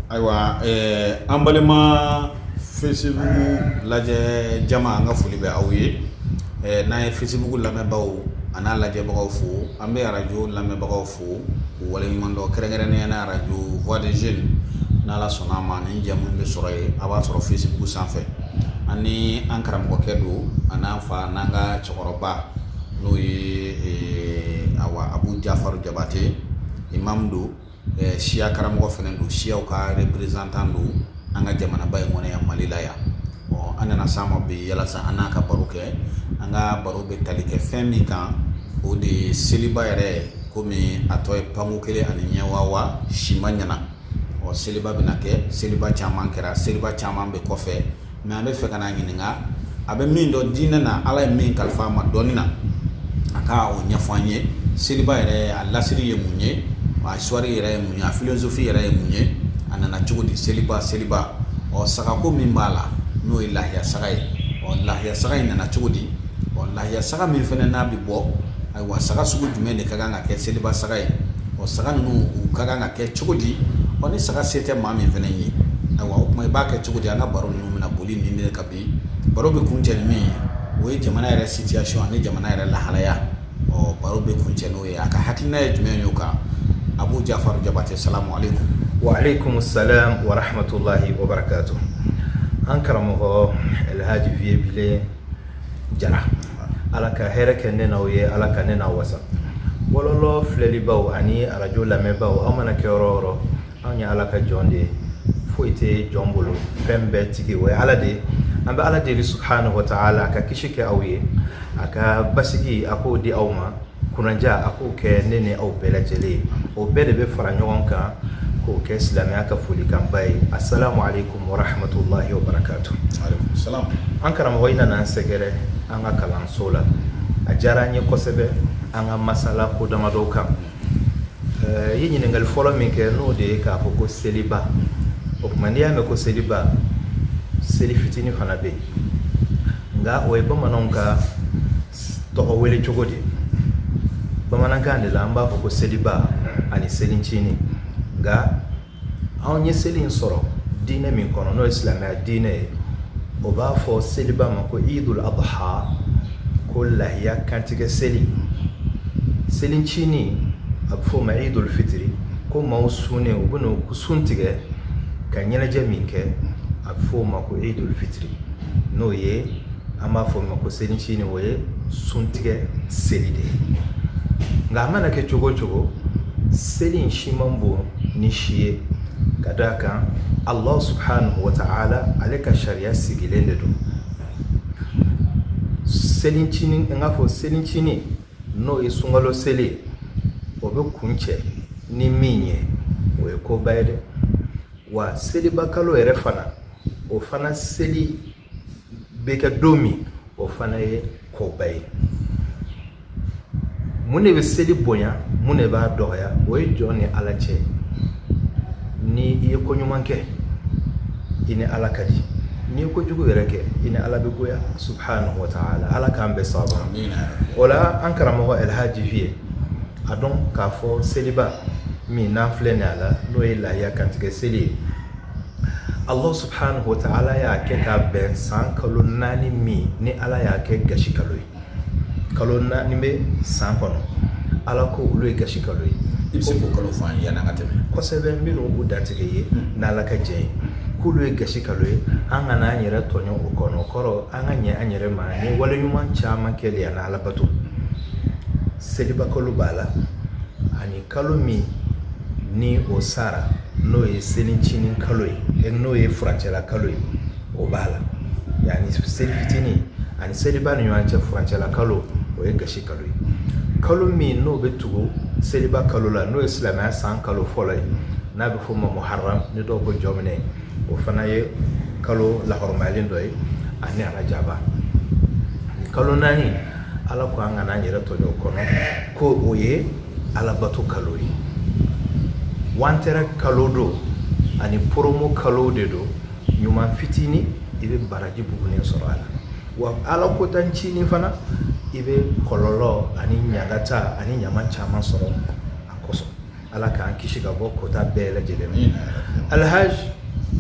Ayiwa an balima Facebook lajɛ jama an ka foli bɛ aw ye n'an ye Facebook lamɛnbagaw an'a lajɛbagaw fo an bɛ arajo lamɛnbagaw fo k'u waleɲuman dɔn kɛrɛnkɛrɛnnenya na arajo Voix des Jeunes n'ala sɔnna a ma nin jɛmu bɛ sɔrɔ yen a b'a sɔrɔ Facebook sanfɛ ani an karamɔgɔkɛ don an'an fa n'an ka cɛkɔrɔba n'o ye a abu jafaru jabate imam don Ɛɛ siya karamɔgɔ fana don siyaw ka représentant don an ka jamanaba in kɔnɔ yan Mali la yan. Ɔɔ an nana s'a ma bi yalasa an n'a ka baro kɛ. An ka baro bɛ tali kɛ fɛn min kan o de ye seliba yɛrɛ komi a tɔ ye panko kelen ani ɲɛ wawa si ma ɲana. Ɔɔ seliba bɛna kɛ seliba caman kɛra seliba caman bɛ kɔfɛ mais an bɛ fɛ k'a ɲininka a bɛ min dɔn diinɛ na ala ye min kalifa a ma dɔnni na a ka o ɲɛfɔ an ye seliba yɛrɛ a lasiri ye mun ye a histoire yɛrɛ ye mun ye a philosophie yɛrɛ ye mun ye a nana cogo di seliba seliba ɔ sagako min b'a la n'o ye lahiya saga ye ɔ lahiya saga in nana cogo di ɔ lahiya saga min fana n'a bɛ bɔ wa saga sugu jumɛn de ka kan ka kɛ seliba saga ye o saga ninnu ka kan ka kɛ cogo di o ni saga se tɛ maa min fana ye o tuma i b'a kɛ cogo di an ka baro ninnu bɛna boli nin de kan bi baro bɛ kuncɛ ni min ye o ye jamana yɛrɛ situation ani jamana yɛrɛ lahalaya ɔ baro bɛ kuncɛ n'o ye a ka hakilina ye jumɛn ye o kan abu jafaru jabate salamu alaikum wa alaikum salam wa rahmatullahi wa barakatuh an karamɔgɔ elhaji vieux bilen jara ala ka hɛrɛ kɛ ne n'aw ye ala ka ne n'aw wasa bɔlɔlɔ filɛlibaaw ani arajo lamɛnbaaw aw mana kɛ yɔrɔ o yɔrɔ anw ye ala ka jɔn de ye foyi tɛ jɔn bolo fɛn bɛɛ tigi o ye ala de ye an bɛ ala deli subhanahu wa ta'ala a ka kisi kɛ aw ye a ka basigi a k'o di aw ma kunnaja a k'o kɛ ne ni aw bɛɛ lajɛlen ye o bɛɛ de bɛ fara ɲɔgɔn kan k'o kɛ silamɛya ka folikanba ye assalamu alaikum wa rahmatullahi wa barakatuh an karamɔgɔ i nana an sɛgɛrɛ an ka kalanso la a diyara an ye kosɛbɛ an ka masala ko damadɔ kan i ye ɲininkali fɔlɔ min kɛ n'o de ye k'a fɔ ko seliba o tuma n'i y'a mɛn ko seliba seli fitinin fana bɛ yen nka o ye bamananw ka tɔgɔ wele cogo di bamanankan de la an b'a fɔ ko seliba ani selincinin nka anw ye seli in sɔrɔ diinɛ min kɔnɔ n'o ye silamɛya diinɛ ye o b'a fɔ seliba ma ko idul adha ko lahiya kantigɛ seli selincinin a bɛ fɔ o ma idul fitiri ko maaw sunnen u bɛ n'u sun tigɛ ka ɲɛnajɛ min kɛ a bɛ fɔ o ma ko idul fitiri n'o ye an b'a fɔ o ma ko selicinin o ye suntigɛ seli de ye nka a mana kɛ cogo o cogo seli in si man bon ni si ye ka d'a kan ala subhanahu wa ta'ala ale ka sariya sigilen de don selicinin i n'a fɔ selicinin n'o ye sunkalo seli o bɛ kuncɛ ni min ye o ye koba ye dɛ wa seliba kalo yɛrɛ fana o fana seli bɛ kɛ don min o fana ye koba ye mun de bɛ seli bonya mun de b'a dɔgɔya o ye jɔn ni ala cɛ ni i ye ko ɲuman kɛ i ni ala ka di n'i ye kojugu yɛrɛ kɛ i ni ala bɛ goya subhanahu wa ta'ala ala k'an bɛɛ sababa o la an karamɔgɔ alhaji Vieux a dɔn k'a fɔ seliba min n'an filɛ nin a la n'o ye lahiya kantigɛ seli ye Allah subhanahu wa ta'ala y'a kɛ k'a bɛn san kalo naani min ni Ala y'a kɛ gasi kalo ye kalo naani bɛ san kɔnɔ Ala ko olu ye gasi kalo ye i bɛ se k'o kalo fɔ an ye yanni an ka tɛmɛ kosɛbɛ n bɛna u dantigɛ ye hmm. n'Ala k'a jɛya k'olu ye gasi kalo ye an kana an yɛrɛ tɔɲɔ o kɔnɔ o kɔrɔ an ka ɲɛ an yɛrɛ ma ni wale ɲuman caman kɛli ye ani Ala bato seliba kalo b'a la ani Kalo min ni o sara n'o ye selicinin kalo ye e n'o ye furancɛla kalo ye o b'a la yani selicinin ani seliba ni ɲɔgɔn cɛ furancɛla kalo o ye gasi kalo ye kalo min n'o bɛ tugu seliba kalo la n'o ye silamɛya san kalo fɔlɔ ye n'a bɛ fɔ o ma muharram ni dɔw ko jɔminɛ ye o fana ye kalo lahɔrɔmayalen dɔ ye ani arajaba kalo naani ala ko an kana an yɛrɛ tɔɲɔ o kɔnɔ ko o ye alabato kalo ye wantɛrɛ kalo don ani poromo kalo de don ɲuman fitinin i bɛ baraji bugunen sɔrɔ a la wa ala kota ncinin fana i bɛ kɔlɔlɔ ani ɲagata ani ɲama caman sɔrɔ a kosɔn ala k'an kisi ka bɔ kota bɛɛ lajɛlen ma alhaj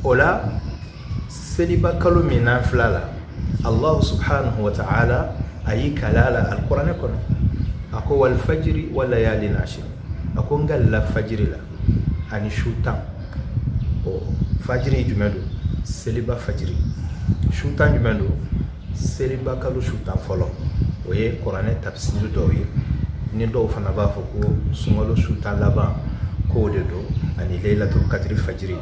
o la seliba kalo min n'an filɛ a la allahu subhanahu wa ta'ala a y'i kali a la alikuranɛ kɔnɔ a ko walifajiri walayalin ashiri a ko n kalila fajiri la ani su tan ɔ fajiri jumɛn don seliba fajiri su tan jumɛn don Seliba kalo su tan fɔlɔ o ye kuranɛ tafisiri dɔw ye ni dɔw fana b'a fɔ ko sunkalo su tan laban k'o de don ani leyilatul kadiri fajiri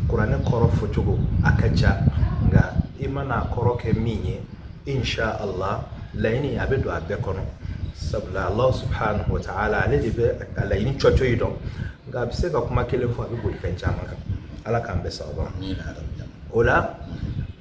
kuranɛ kɔrɔ fɔcogo a ka ca nka i mana a kɔrɔ kɛ min ye insha Allah laɲini a bɛ don a bɛɛ kɔnɔ sabula Allah subhanahu wa ta'ala ale de bɛ a laɲini cɔcɔyi dɔn nka a bɛ se ka kuma kelen fɔ a bɛ boli fɛn caman kan Ala k'an bɛɛ sababa o la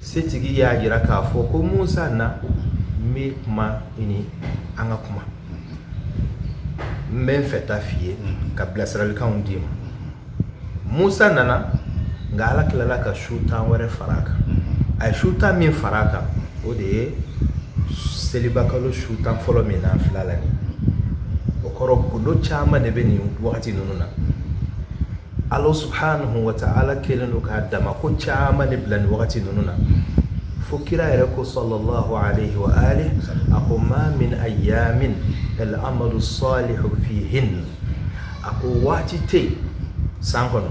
setigi y'a jira k'a fɔ ko musa na n bɛ kuma i ni an ka kuma n bɛ n fɛ ta f'i ye ka bilasiralikanw d'i ma musa nana nka ala tilala ka su tan wɛrɛ fara a kan a ye su tan min fara a kan o de ye selibakalo su tan fɔlɔ min n'an filɛ a la nin o kɔrɔ gundo caman de bɛ nin wagati ninnu na Ala subhanahu wa ta'ala kɛlen don ka dama ko caman de bila nin wagati ninnu na fo kira yɛrɛ ko sallallahu alayhi wa alihi a ko ma min ayyamin al-amalu salihu fihin a ko waati tɛ yen san kɔnɔ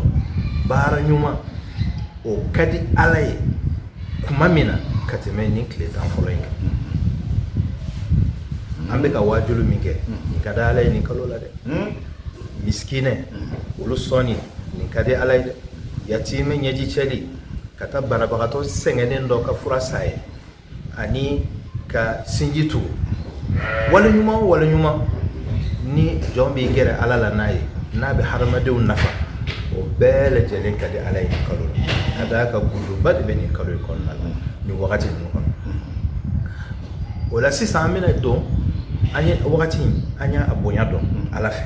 baara ɲuman o ka di ala ye tuma min na ka tɛmɛ nin tile tan fɔlɔ in kan an bɛka waajuli min kɛ nin ka di ala ye nin kalo la dɛ miskinɛ olu sɔnni nin ka di ala ye dɛ yatimɛ ɲɛji cɛli ka taa banabagatɔ sɛgɛnnen dɔ ka fura san a ye ani ka sinji tugu wale ɲuman o wale ɲuman ni jɔn b'i gɛrɛ ala la n'a ye n'a bɛ hadamadenw nafa o bɛɛ lajɛlen ka di ala ye nin kalo la ka d'a kan gundoba de bɛ nin kalo in kɔnɔna la nin wagati ninnu kɔnɔ o la sisan an bɛna dɔn an ye wagati an y'a bonya dɔn ala fɛ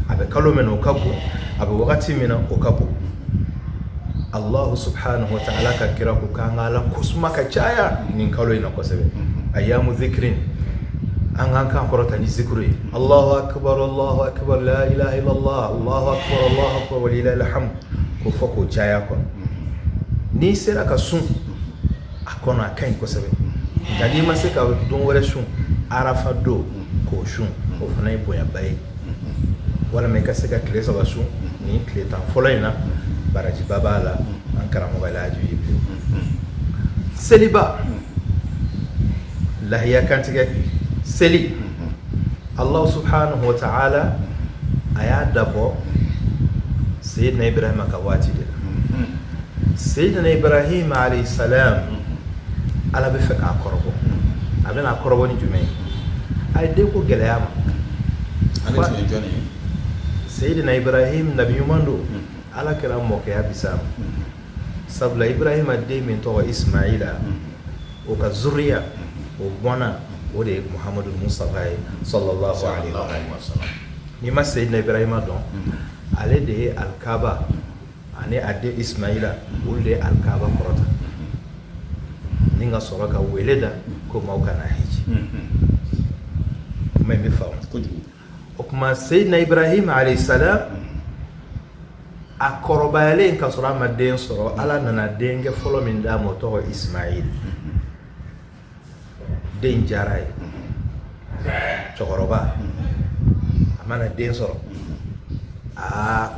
a bɛ kalo min na o ka bon a bɛ wagati min na o ka bon alahu subhanahu wa ta'ala ka kira ko k'an ka ala kosuma ka caya nin kalo in na kosɛbɛ ayyamu zikirin an k'an kan kɔrɔta ni zikuru ye alahu akbar alahu akbar la ilaha illallah alahu akbar alahu akbar wa lillahi alhamd k'o fɔ k'o caya a kɔnɔ n'i sera ka sun a kɔnɔ a ka ɲi kosɛbɛ nka n'i ma se ka don wɛrɛ sun arafa don k'o sun o fana ye bonyaba ye walima i ka se ka tile saba sun nin tile tan fɔlɔ in na barajiba b'a la an karamɔgɔ alhaji jibril seliba lahiya kantigɛ seli allahu subhanahu wa ta'ala a y'a dabɔ seyidina ibrahima ka waati de la seyidina ibrahima alayhi salam ala b'a fɛ k'a kɔrɔbɔ a bɛna a kɔrɔbɔ ni jumɛn ye a ye denko gɛlɛya a ma seyidina ibrahim nabi ɲuman don ala kira mɔkɛya bɛ se a ma sabula ibrahima den min tɔgɔ ismaila o ka zuriya o bɔnna o de ye muhamadu mustafa ye sallallahu alayhi wa sallam n'i ma seyidina ibrahima dɔn ale de ye alikaba ani a den ismaila olu de ye alikaba kɔrɔta ni ka sɔrɔ ka wele da ko maaw ka na hiji ma bɛ fa kojugu o kuma seyidina ibrahima alayhi salam a kɔrɔbayalen ka sɔrɔ a ma den sɔrɔ ala nana denkɛ fɔlɔ min d'a ma o tɔgɔ ismail den diyara a ye cɛkɔrɔba a mana den sɔrɔ aa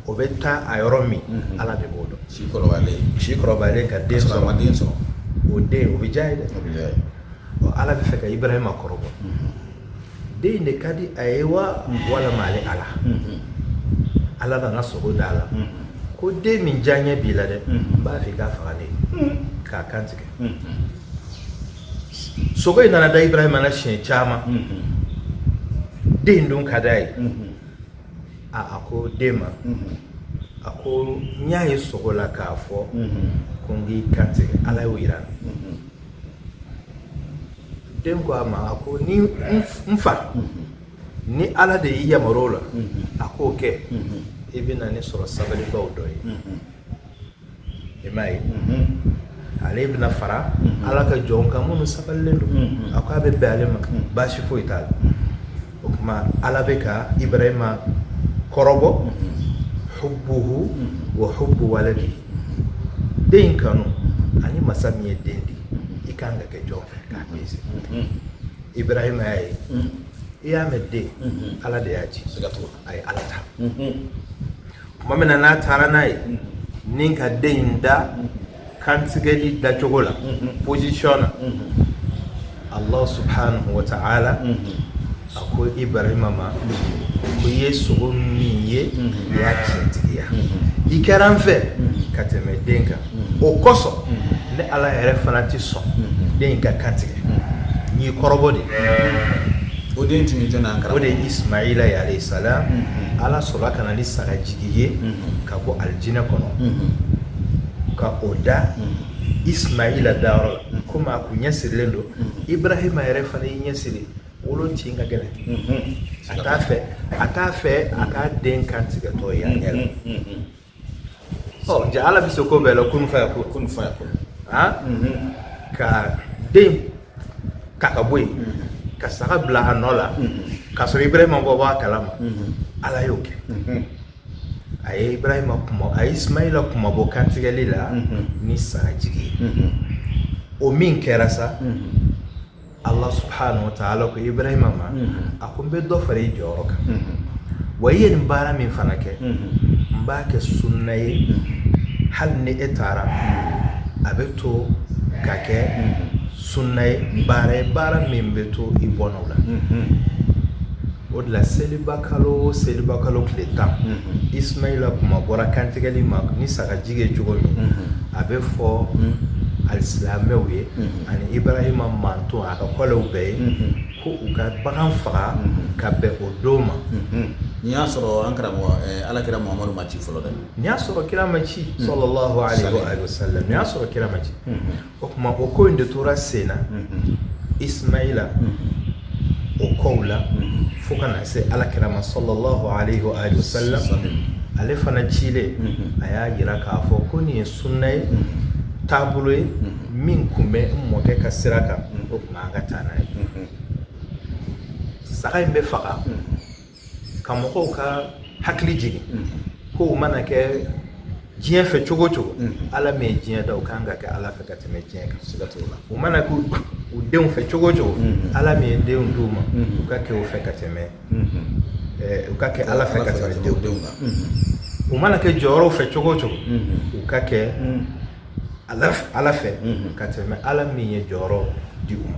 o bɛ taa a yɔrɔ min mhm. ala de b'o dɔn si kɔrɔbayalen si kɔrɔbayalen ka den sɔrɔ den sɔrɔ o den o bɛ diya a ye dɛ ala b'a fɛ ka ibrahima kɔrɔbɔ mhm. den in de ka di a ye wa walima ale ala ala nana sogo da a la ko den min diyanye b'i la dɛ n b'a fɛ i k'a faga ne ye k'a kan tigɛ sogo in nana da ibrahima na siɲɛ caman den dun ka d'a ye a a ko den ma a ko n y'a ye sogo la k'a fɔ ko n k'i kan tigɛ ala y'o yira n na den ko a ma a ko ni n fa ni ala de y'i yamaru o la a k'o kɛ i bɛ na ne sɔrɔ sabalibaw dɔ ye i m'a ye ale bɛna fara ala ka jɔnw kan minnu sabalilen don a ko a bɛ bɛn ale ma baasi foyi t'a la o kuma ala bɛ ka ibrahima kɔrɔbɔ hubbuhu wa hubbu waladi den kanu ani masa min ye den di i ka kan ka kɛ jɔn fɛ k'a pese ibrahima y'a ye i y'a mɛn den ala de y'a di a ye ala ta tuma min na n'a taara n'a ye ni ka den in da kantigɛli dacogo la position na Allah subhanahu wa ta'ala a ko Ibrahima ma ko i ye sogo min ye i y'a tiɲɛtigiya i kɛra n fɛ ka tɛmɛ den kan o kosɔn ne Ala yɛrɛ fana tɛ sɔn den in ka kantigɛ n y'i kɔrɔbɔ de o den tun ye jɔnni ye o de ye Ismaila ye alayhi salam Ala sɔrɔla ka na ni saga jigi ye ka bɔ alijinɛ kɔnɔ. ka o da ismaila dayɔrɔ la komi a kun ɲɛ sirilen don ibrahima yɛrɛ fana y'i ɲɛ siri wolo tin ka gɛlɛn a t'a fɛ a k'a den kan tigɛtɔ ye a ɲɛ la ɔ jaa ala bɛ se ko bɛɛ la kunu fa yakun kunu fa yakun ka den ta ka bɔ yen ka saga bila a nɔ la k'a sɔrɔ ibrahima ma bɔ a kalama ala y'o kɛ a ye ibrahima kunma a ye ismaila kunmabɔ kantigɛli la ni sagajigi ye o min kɛra sa allah subhanahu wa ta'ala ko ibrahima ma a ko n bɛ dɔ fara i jɔyɔrɔ kan wa i ye nin baara min fana kɛ n b'a kɛ sunna ye hali ni e taara a bɛ to ka kɛ sunna ye baara ye baara min bɛ to i bɔnnaw la o de la seliba kalo seliba kalo tile tan ismaila kunmabɔra kantigɛli ma ni sagajigi ye cogo min a bɛ fɔ alisilamɛw ye ani ibrahima manton a ka kɔlɛw bɛɛ ye ko u ka bagan faga ka bɛn o don ma nin y'a sɔrɔ an karamɔgɔ ala kira muhamadu ma ci fɔlɔ dɛ nin y'a sɔrɔ kira ma ci sallallahu alayhi wa sallam nin y'a sɔrɔ kira ma ci o tuma o ko in de tora sen na ismaila o kɔw la fo ka na se ala kira ma sallallahu alayhi wa alihi wa sallam ale fana cilen a y'a jira k'a fɔ ko nin ye sunna ye taabolo ye min kun bɛ n mɔkɛ ka sira kan o tuma an ka taa n'a ye saga in bɛ faga ka mɔgɔw ka hakili jigin ko u mana kɛ diɲɛ fɛ cogo cogo ala min ye diɲɛ da u kan ka kɛ ala fɛ ka tɛmɛ diɲɛ kan siga t'o la u mana kɛ u denw fɛ cogo cogo ala min ye denw d'u ma u ka kɛ o fɛ ka tɛmɛ u ka kɛ ala fɛ ka tɛmɛ denw denw kan u mana kɛ jɔyɔrɔw fɛ cogo cogo u ka kɛ ala fɛ ka tɛmɛ ala min ye jɔyɔrɔ di u ma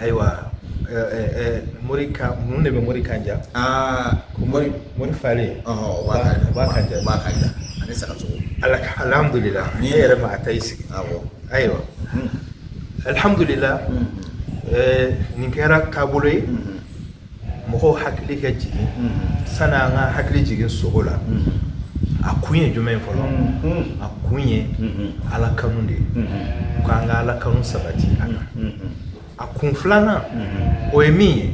ayiwa mori kan mun de bɛ mori kan ja aa mori mori falen o b'a kan ja o b'a kan ja ani sagasogo ala alhamdulila ni e yɛrɛ ma atayi sigi awɔ ayiwa alhamdulila nin kɛra taabolo ye mɔgɔw hakili ka jigin sani an ka hakili jigin sogo la a kun ye jumɛn ye fɔlɔ a kun ye ala kanu de ye ko an ka ala kanu sabati ani a kun filanan o ye min ye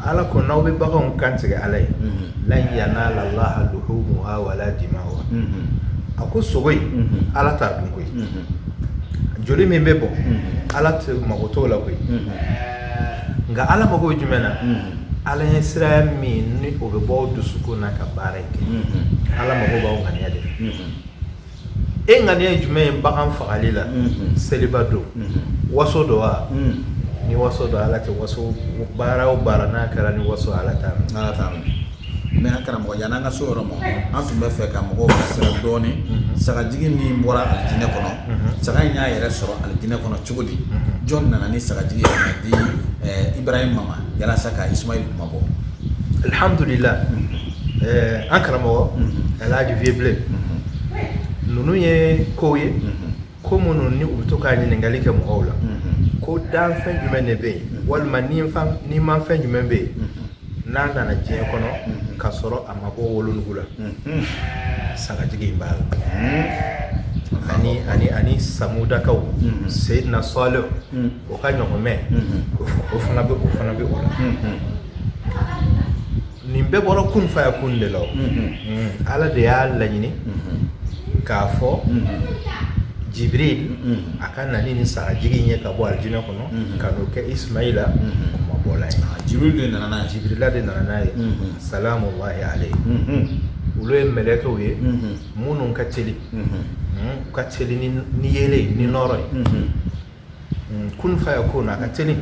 ala ko n'aw bɛ baganw kantigɛ ala ye lan yanala allaha luhumuha wala dima'uha a ko sogo in ala t'a dun koyi joli min bɛ bɔn ala tɛ mago t'o la koyi nka ala mago bɛ jumɛn na ala ɲɛsiran min ni o bɛ bɔ dusukun na ka baara kɛ ala mago b'aw ŋaniya de e ŋaniya ye jumɛn ye bagan fagali la seliba don waso don wa ni waso don ala tɛ waso baara o baara n'a kɛra ni waso ala t'a la Mɛ an karamɔgɔ yanni an ka s'o yɔrɔ ma an tun bɛ fɛ ka mɔgɔw sira dɔɔnin sagajigi min bɔra alijinɛ kɔnɔ saga in y'a yɛrɛ sɔrɔ alijinɛ kɔnɔ cogo di jɔn nana ni sagajigi in di ibrahima ma walasa ka isimayila kunmabɔ alihamdulila an karamɔgɔ alaji viye bilen ninnu ye ko ye ko minnu ni u bɛ to ka ɲininkali kɛ mɔgɔw la mhm. ko danfɛn jumɛn de bɛ yen mhm. walima nimafɛn jumɛn bɛ yen mhm. n'a nana diɲɛ kɔnɔ ka sɔrɔ a ma bɔ wolonugu la sagajigi in b'a la ani ani ani samudakaw seyidina sɔɔlihu o ka ɲɔgɔmɛ o fana bɛ o fana bɛ o la nin bɛɛ bɔra kun fayakun de la ala de y'a laɲini k'a fɔ jibirili a ka na ni sagajigi in ye ka bɔ alijinɛ kɔnɔ ka n'o kɛ isimayila kunmabɔ la jibirila de nana jibirila de nana n'a ye salamulahi alayihi olu ye mɛlɛkɛw ye minnu ka teli ka teli ni yeelen ni nɔɔrɔ ye kun fayakuna a ka teli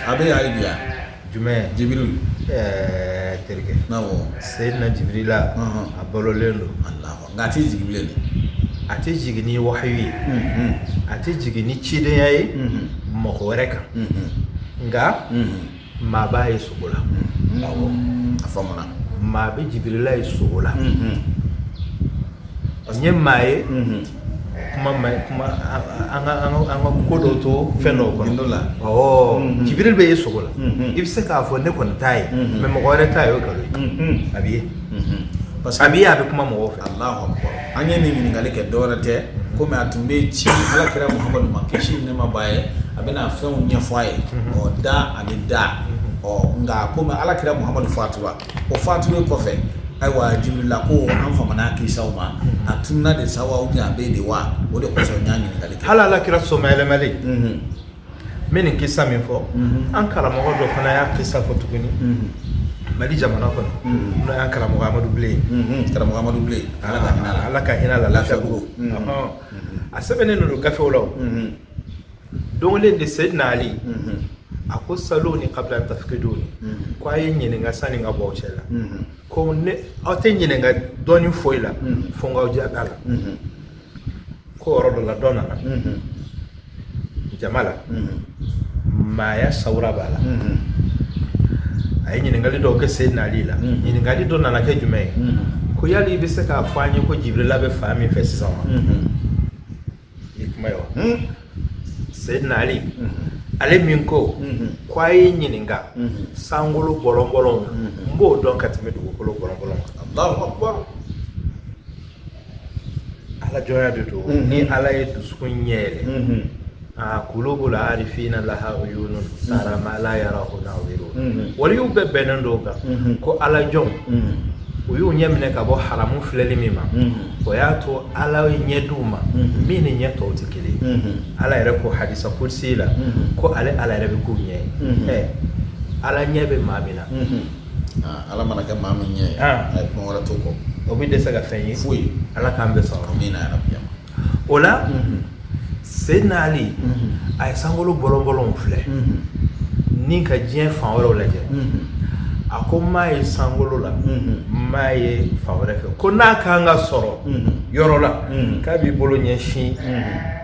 a bɛ y'ale bila jumɛn jibirili terikɛ seyidina jibirila a balolen don nka a tɛ jigin bilen a tɛ jigin ni wahayi ye a tɛ jigin ni cidenya ye mɔgɔ wɛrɛ kan nka Maa b'a ye sugo la a fa maa bɛ jibirila ye sugo la parce ye maa ye kuma an ka ko dɔ to fɛn dɔ kɔnɔ la jibirili bɛ ye sugo la i bɛ se k'a fɔ ne kɔni t'a ye mɛ mɔgɔ wɛrɛ t'a ye o nkalon a bɛ ye parce que a bɛ a bɛ kuma mɔgɔ fɛ An ye nin ɲininkali kɛ dɔwɛrɛ tɛ kɔmi a tun bɛ ci ala kira muhamadu ma kisi ni nɛɛma b'a ye a bɛ na fɛnw ɲɛfɔ a ye ɔ da ani da ɔ nka kɔmi ala kira muhamadu fatura o fatuli kɔfɛ ayiwa jibirila ko an fa kisa ma a tun na de sa a bɛ de wa o de kosɔn n ye ɲininkali kɛ ala kira sɔmayɛlɛmalen n bɛ nin kisa min fɔ an karamɔgɔ dɔ fana y'a kisa fɔ tuguni mali jamana kɔnɔ n'o y'an karamɔgɔ amadu bilen karamɔgɔ amadu bilen ala ka hinɛ la lafiyabugu a sɛbɛnnen don olu gafew la donc ale de seyidina ali a ko saluni kabila tafikiduni ko a ye n ɲininka sanni n ka bɔ aw cɛ la ko aw tɛ n ɲininka dɔnni foyi la fo n k'aw diya da la ko yɔrɔ dɔ la dɔ nana jama la maaya sawura b'a la a ye ɲininkali dɔw kɛ seyidina ali la ɲininkali dɔ nana kɛ jumɛn ye ko yali i bɛ se k'a fɔ an ye ko jibirila bɛ fan min fɛ sisan wa i kuma ye wa seyidina ali ale min ko ko a ye n ɲininka sankolo bɔlɔnbɔlɔn n b'o dɔn ka tɛmɛ dugukolo bɔlɔnbɔlɔn kan ala jɔnya de don mhm. ni ala ye dusukun ɲɛ yɛlɛ mhm. a kulubu al arifina laha uyunun mhm. tara ma la yarahu naziruna waliyuw bɛɛ bɛnnen don a kan ko ala jɔnw y'u ɲɛ minɛ ka bɔ haramu filɛli min ma o y'a to ala ye ɲɛ d'u ma min ni ɲɛ tɔw tɛ kelen ala yɛrɛ ko hadisa kudusi la ko ale ala yɛrɛ bɛ k'u ɲɛ ye ala ɲɛ bɛ maa min na Ala mana kɛ maa min ɲɛ a ye kuma wɛrɛ to kɔ o bɛ dɛsɛ ka fɛn ye foyi ala k'an bɛɛ son amiina yarabi o la seyidina ali a ye sankolo bɔlɔnbɔlɔn filɛ ni ka diɲɛ fan wɛrɛw lajɛ a ko n m'a ye sankolo la n m'a ye fan wɛrɛ fɛ ko n'a ka kan ka sɔrɔ yɔrɔ la k'a b'i bolo ɲɛsin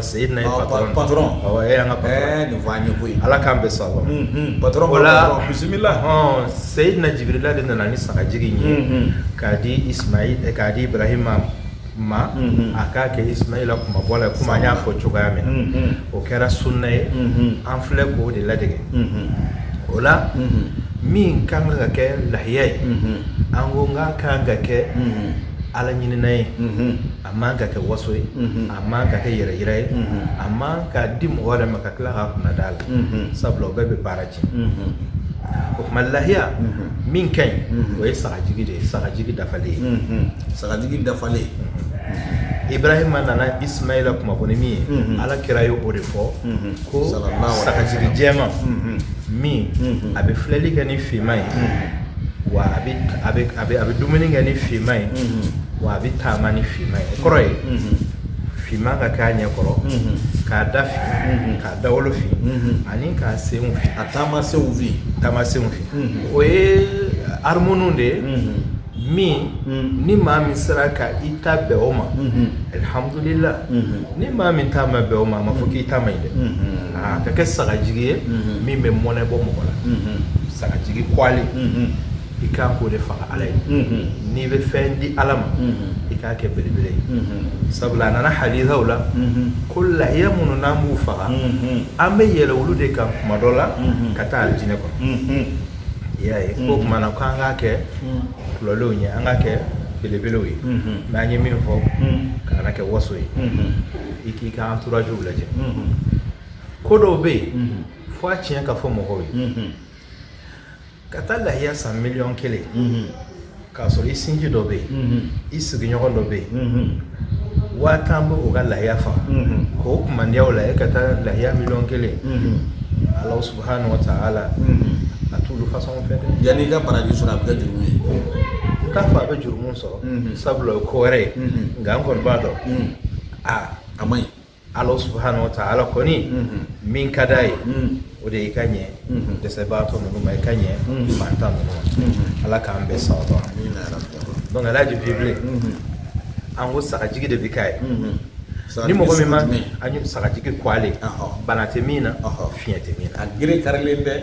Seyidina patɔrɔn e an ka koyi ala k'an bɛ sa la bisimila seyidina jibirila de nana ni sagajigi ye k'a di k'a di ibarahima ma a k'a kɛ isumayila kunmabɔ la komi n y'a fɔ cogoya min na o kɛra sunna ye an filɛ k'o de ladege o la min kan ka kɛ lahiya ye an ko nk'a kan ka kɛ ala ɲinin ye a man ka kɛ waso ye a man ka kɛ yɛrɛ yira ye a man ka di mɔgɔ wɛrɛ ma ka tila k'a kunnad'a la sabula o bɛɛ bɛ baara cɛn o tuma lahiya min ka ɲi o ye sagajigi de ye sagajigi dafalen ye sagajigi dafalen ibarahima nana isumayila kunmabɔ ni min ye ala kira y'o de fɔ ko sagajigi jɛma min a bɛ filɛli kɛ ni finma ye wa a bɛ dumuni kɛ ni finma ye wa a bɛ taama ni finma ye kɔrɔ ye finman ka k'a ɲɛ kɔrɔ k'a da fin k'a dawolo fin ani k'a senw fin a taama senw fin taama senw fin o ye harmoniw de ye min ni maa min sera ka i ta bɛn o ma alihamudulila ni maa min ta ma bɛn o ma a ma fɔ k'i ta man ɲi dɛ a ka kɛ sagajigi ye min bɛ mɔnɛ bɔ mɔgɔ la sagajigi kwalen i ka kan k'o de faga ala ye n'i bɛ fɛn di ala ma i k'a kɛ belebele ye sabula a nana hadisaw la ko lahiya minnu n'an b'u faga an bɛ yɛlɛ olu de kan kuma dɔ la ka taa alijinɛ kɔnɔ i y'a ye ko tuma na ko an k'a kɛ tɔlɔlenw ye an k'a kɛ belebelew ye n'an ye min fɔ k'a kana kɛ waso ye i k'i ka entouragew lajɛ ko dɔw bɛ yen fo tiɲɛ k'a fɔ mɔgɔw ye ka taa lahiya san miliyɔn kelen k'a sɔrɔ i sinji dɔ bɛ yen i sigiɲɔgɔn dɔ bɛ yen waa tan bɛ o ka lahiya faga k'o kumandiyaw la e ka taa lahiya miliyɔn kelen ala subahana wa taala a t'olu fasɔn fɛ dɛ yanni i ka baraji sɔrɔ a bɛ kɛ juru ye n t'a fɔ a bɛ jurumu sɔrɔ sabula o ye ko wɛrɛ ye nka n kɔni b'a dɔn a a man ɲi ala subahana wa taala kɔni min ka d'a ye o de y'i ka ɲɛ dɛsɛbaatɔ ninnu ma i ka ɲɛ mantan ninnu ma ala k'an bɛɛ sabati donc alhaji bibile an ko sagajigi de bɛ k'a ye ni mɔgɔ min ma an ye sagajigi kɔgɔlen bana tɛ min na fiɲɛ tɛ min na a gere karilen tɛ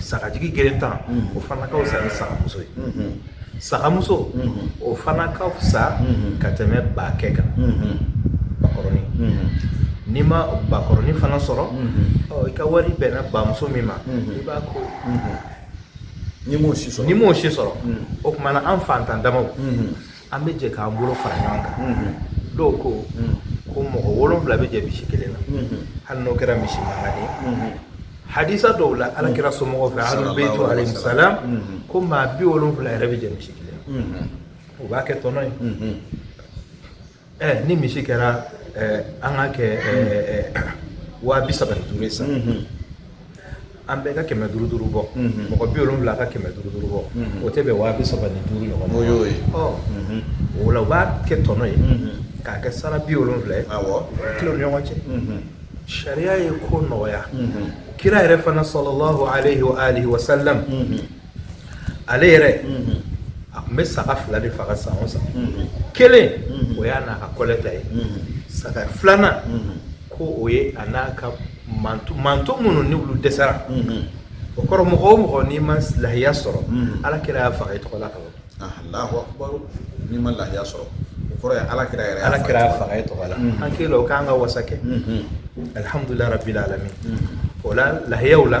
sagajigi gerentan o fana ka fisa ni sagamuso ye sagamuso o fana ka fisa ka tɛmɛ bakɛ kan bakɔrɔnin n'i ma bakɔrɔnin fana sɔrɔ i ka wari bɛnna bamuso min ma i b'a ko n'i m'o si sɔrɔ o kuma na an fantan damaw an bɛ jɛ k'an bolo fara ɲɔgɔn kan dɔw ko ko mɔgɔ wolonwula bɛ jɛ misi kelen na hali n'o kɛra misi mankan ye hadisa dɔw la ala kira somɔgɔw fɛ ahlul bayt alayhim salam ko maa bi wolonwula yɛrɛ bɛ jɛ misi kelen u b'a kɛ tɔn ye ɛ ni misi kɛra an k'a kɛ waa bi saba ni duuru ye sa an bɛɛ ka kɛmɛ duuru duuru bɔ mɔgɔ bi wolonwula ka kɛmɛ duuru duuru bɔ o tɛ bɛn waa bi saba ni duuru ɲɔgɔn o y'o ye o la u b'a kɛ tɔn ye k'a kɛ sara bi wolonwula ye k'a tila u ni ɲɔgɔn cɛ sariya ye ko nɔgɔya kira yɛrɛ fana salalahu alayhi wa alihi wa ale yɛrɛ a tun bɛ saga fila de faga san o san kelen o y'a n'a ka kɔlɛ ta ye saga filanan ko o ye a n'a ka mantɔn minnu ni olu dɛsɛra o kɔrɔ mɔgɔ o mɔgɔ n'i ma lahiya sɔrɔ ala kira y'a faga i tɔgɔ la ka ban n'i ma lahiya sɔrɔ o kɔrɔ ye ala kira yɛrɛ ala kira y'a faga i tɔgɔ la an kelen o k'an ka wasa kɛ alihamudulila rabil alamin o la lahiyaw la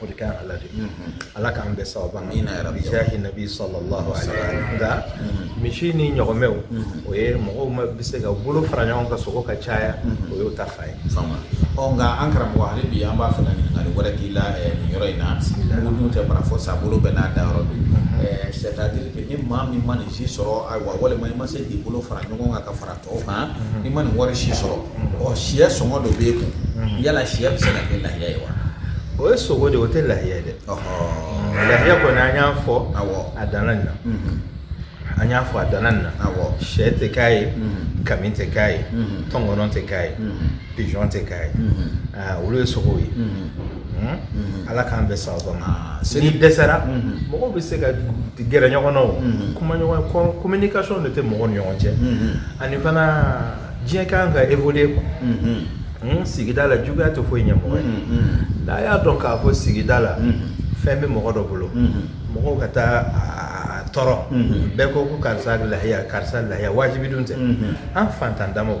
o de ka ɲi ala de ala k'an bɛn sawaba ma bijahi nabi sallallahu alaihi wa sallam nka misi ni ɲɔgɔmɛw o ye mɔgɔw ma bɛ se ka bolo fara ɲɔgɔn kan sogo ka caya o y'o ta fan ye ɔ nka an karamɔgɔ hali bi an b'a fɛ ka ɲininkali wɛrɛ k'i la nin yɔrɔ in na mun dun tɛ bara fɔ sa bolo bɛɛ n'a da yɔrɔ don c'est-à-dire que ni maa min ma nin si sɔrɔ ayiwa walima i ma se k'i bolo fara ɲɔgɔn kan ka fara O kan i ma nin wari si sɔrɔ ɔ sɛ sɔngɔ dɔ bɛ e kun yala sɛ bɛ se ka kɛ lahiya ye wa o ye sogo de o tɛ lahiya ye dɛ lahiya kɔni an y'a fɔ a dan nin na an y'a fɔ a dan nin na sɛ tɛ k'a ye kami tɛ k'a ye tɔnkɔnɔ tɛ k'a ye pigeon tɛ k'a ye ah, olu ye sogow ye hmm? ala k'an bɛn sawaba ma ah, n'i dɛsɛra mɔgɔw bɛ se ka gɛrɛ ɲɔgɔn na o kuma ɲɔgɔn communication de tɛ mɔgɔw ni ɲɔgɔn cɛ ani fana diɲɛ kan ka évoluer quoi hmm, sigida la juguya tɛ foyi ɲɛ mɔgɔ ye n'a y'a dɔn k'a fɔ sigida la fɛn bɛ mɔgɔ dɔ bolo mɔgɔw ka taa a tɔɔrɔ bɛɛ ko ko karisa lahiya karisa lahiya wajibi dun tɛ an fantan damaw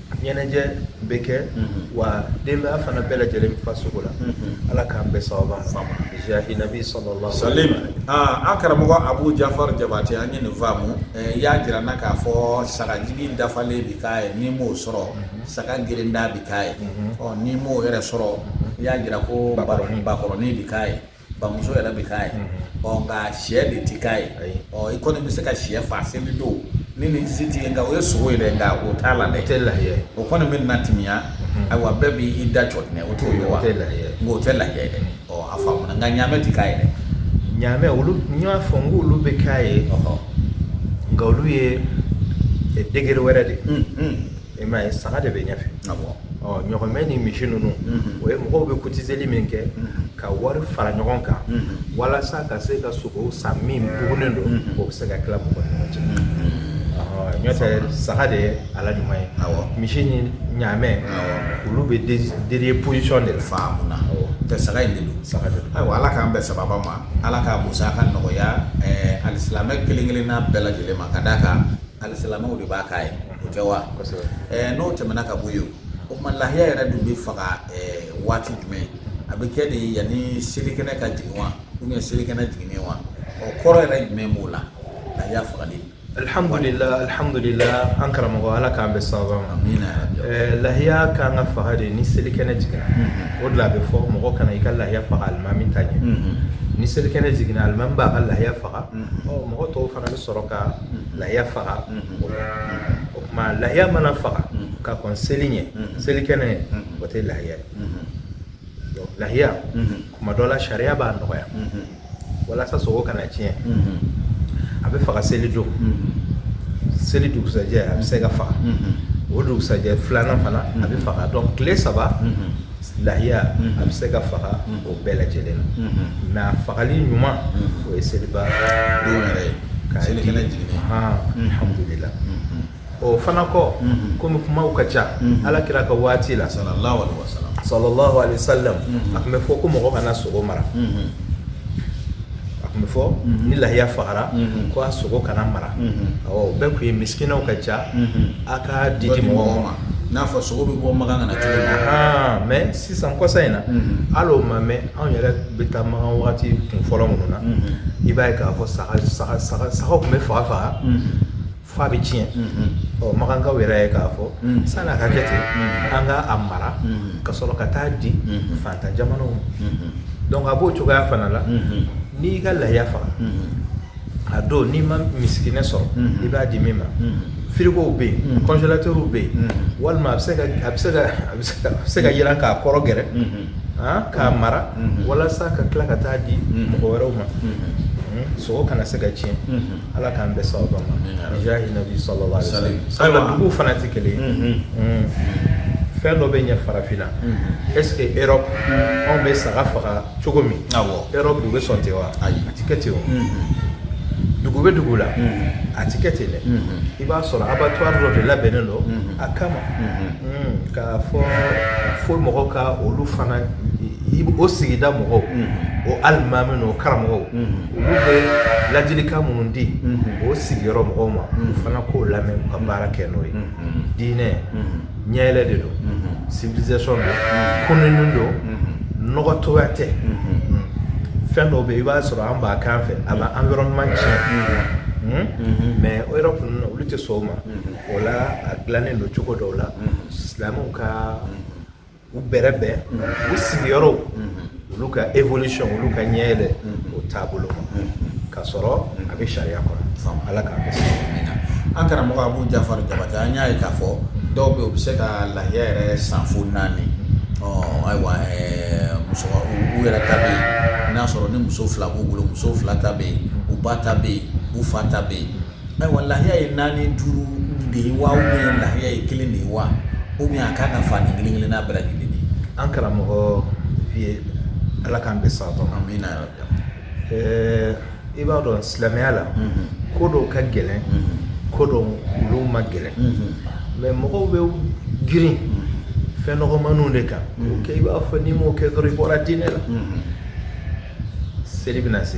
ɲɛnajɛ bɛ kɛ wa denbaya fana bɛɛ lajɛlen bɛ fa sogo la ala k'an bɛn sawaba ma jahi nabi sallallahu sallam an karamɔgɔ abu jafar jabate an ye nin faamu i y'a jira an na k'a fɔ sagajigi dafalen bi k'a ye n'i m'o sɔrɔ saga gerenda bi k'a ye ɔ n'i m'o yɛrɛ sɔrɔ i y'a jira ko bakɔrɔnin bi k'a ye bamuso yɛrɛ bɛ k'a ye ɔ nka sɛ de tɛ k'a ye ɔ i kɔni bɛ se ka sɛ faa seli don ni nin si tɛ yen nka o ye sogo ye dɛ nka o t'a la dɛ o tɛ lahiya ye o kɔni bɛ na timiya ayiwa bɛɛ b'i da jɔ ɲɛ o t'o ye wa o tɛ lahiya ye nka o tɛ lahiya ye dɛ ɔ a faamuna nka ɲaamɛ tɛ k'a ye dɛ ɲaamɛ olu n y'a fɔ n ko olu bɛ k'a ye nka olu ye degré wɛrɛ de i m'a ye saga de bɛ ɲɛfɛ ɲɔgɔmɛ ni misi ninnu o ye mɔgɔw bɛ kotiseli min kɛ ka wari fara ɲɔgɔn kan walasa ka se ka sogo san min bugunen don o bɛ se ka tila mɔgɔ ni ɲɔgɔn cɛ nɔntɛ saga de ye a la ɲuman ye misi ni ɲaamɛ olu bɛ dernière position de la faamuna tɛ saga in de don saga ayiwa ala k'an bɛn sawaba ma ala k'a musaka nɔgɔya alisilamɛ kelen kelenna bɛɛ lajɛlen ma ka d'a kan alisilamɛw de b'a k'a ye o tɛ wa n'o tɛmɛna ka bɔ yen o tuma lahiya yɛrɛ dun bɛ faga waati jumɛn a bɛ kɛ de yanni selikɛnɛ ka jigin wa ou bien selikɛnɛ jiginnen wa ɔ kɔrɔ yɛrɛ jumɛn b'o la lahiya fagali alihamudulilahi an karamɔgɔ ala k'an bɛɛ sababa ma lahiya kan ka faga de ni selikɛnɛ jiginna o de la a bɛ fɔ mɔgɔ kana i ka lahiya faga alimami ta ɲɛ ni selikɛnɛ jiginna alimami b'a ka lahiya faga mɔgɔ tɔw fana bɛ sɔrɔ ka lahiya faga o tuma lahiya mana faga ka kɔn seli ɲɛ selikɛnɛ ɲɛ o tɛ lahiya ye lahiya kuma dɔ la sariya b'a nɔgɔya walasa sogo kana tiɲɛ a bɛ faga seli don seli dugusajɛ a bɛ se ka faga o dugusajɛ filanan fana a bɛ faga donc tile saba lahiya a bɛ se ka faga o bɛɛ lajɛlen na mais a fagali ɲuman o ye seliba don yɛrɛ ye selikɛnɛ jiginnen alihamudulilahi o fana kɔ kɔmi kumaw ka ca ala kira ka waati la sallallahu alaihi wasallam a tun bɛ fɔ ko mɔgɔ kana sogo mara a tun bɛ fɔ ni lahiya fagara ko a sogo kana mara awa o bɛɛ kun ye misikinaw ka ca a ka di di mɔgɔw ma n'a fɔ sogo bɛ bɔ makan ka na cogo min mais sisan kɔsa in na hali o ma mɛn anw yɛrɛ bɛ taa makan waati kunfɔlɔ minnu na i b'a ye k'a fɔ sagaw tun bɛ faga faga Fo a bɛ tiɲɛ ɔ makankaw yɛrɛ y'a ye k'a fɔ sann'a ka kɛ ten an ka a mara ka sɔrɔ ka taa di fantan jamanaw ma donc a b'o cogoya fana la n'i ka lahiya faga a don n'i ma misikinɛ sɔrɔ i b'a di min ma firigow bɛ yen congélateurw bɛ yen walima a bɛ se ka jiran k'a kɔrɔ gɛrɛ k'a mara walasa ka tila ka taa di mɔgɔ wɛrɛw ma sogo kana se ka tiɲɛ Ala k'an bɛɛ sababa ma jahi nabi sallallahu alaihi wasallam ayiwa duguw fana tɛ kelen ye fɛn dɔ bɛ ɲɛ farafinna est-ce que Europe anw bɛ saga faga cogo min Europe u bɛ sɔn ten wa a tɛ kɛ ten o dugu bɛ dugu la a tɛ kɛ ten dɛ i b'a sɔrɔ abattoir dɔ de labɛnnen don a kama k'a fɔ fo mɔgɔw ka olu fana o sigida mɔgɔw o alimami n'o karamɔgɔw olu bɛ ladilikan minnu di o sigiyɔrɔ mɔgɔw ma u fana k'o lamɛn ka baara kɛ n'o ye diinɛ ɲɛyɛlɛ de don civilisation don kununni don nɔgɔtɔya tɛ fɛn dɔw bɛ yen i b'a sɔrɔ an b'a kɛ an fɛ a bɛ environnement tiɲɛ mais Europe kɔni na olu tɛ sɔn o ma o la a dilannen don cogo dɔw la silamɛw ka u bɛrɛbɛn u sigiyɔrɔw olu ka évolution olu ka ɲɛ yɛlɛ o taabolo ma ka sɔrɔ a bɛ sariya kɔnɔ ala k'an bɛn an karamɔgɔ Abu Jafari Jabate an y'a ye k'a fɔ dɔw bɛ yen u bɛ se ka lahiya yɛrɛ san fo naani ayiwa muso u yɛrɛ ta bɛ yen n'a sɔrɔ ni muso fila b'u bolo muso fila ta bɛ yen u ba ta bɛ yen u fa ta bɛ yen Ayiwa lahiya ye naani duuru de ye wa ou bien lahiya ye kelen de ye wa ou bien a ka ka fa ni kelen kelen n'a bila kelen de an karamɔgɔ ala k'an bɛn sawaba ma amina yarabi ɛɛ i b'a dɔn silamɛya la ko dɔw ka gɛlɛn ko dɔw olu ma gɛlɛn mɛ mɔgɔw bɛ girin fɛn nɔgɔmaninw de kan kɛ i b'a fɔ n'i m'o kɛ dɔrɔn i bɔra diinɛ la seli bɛna se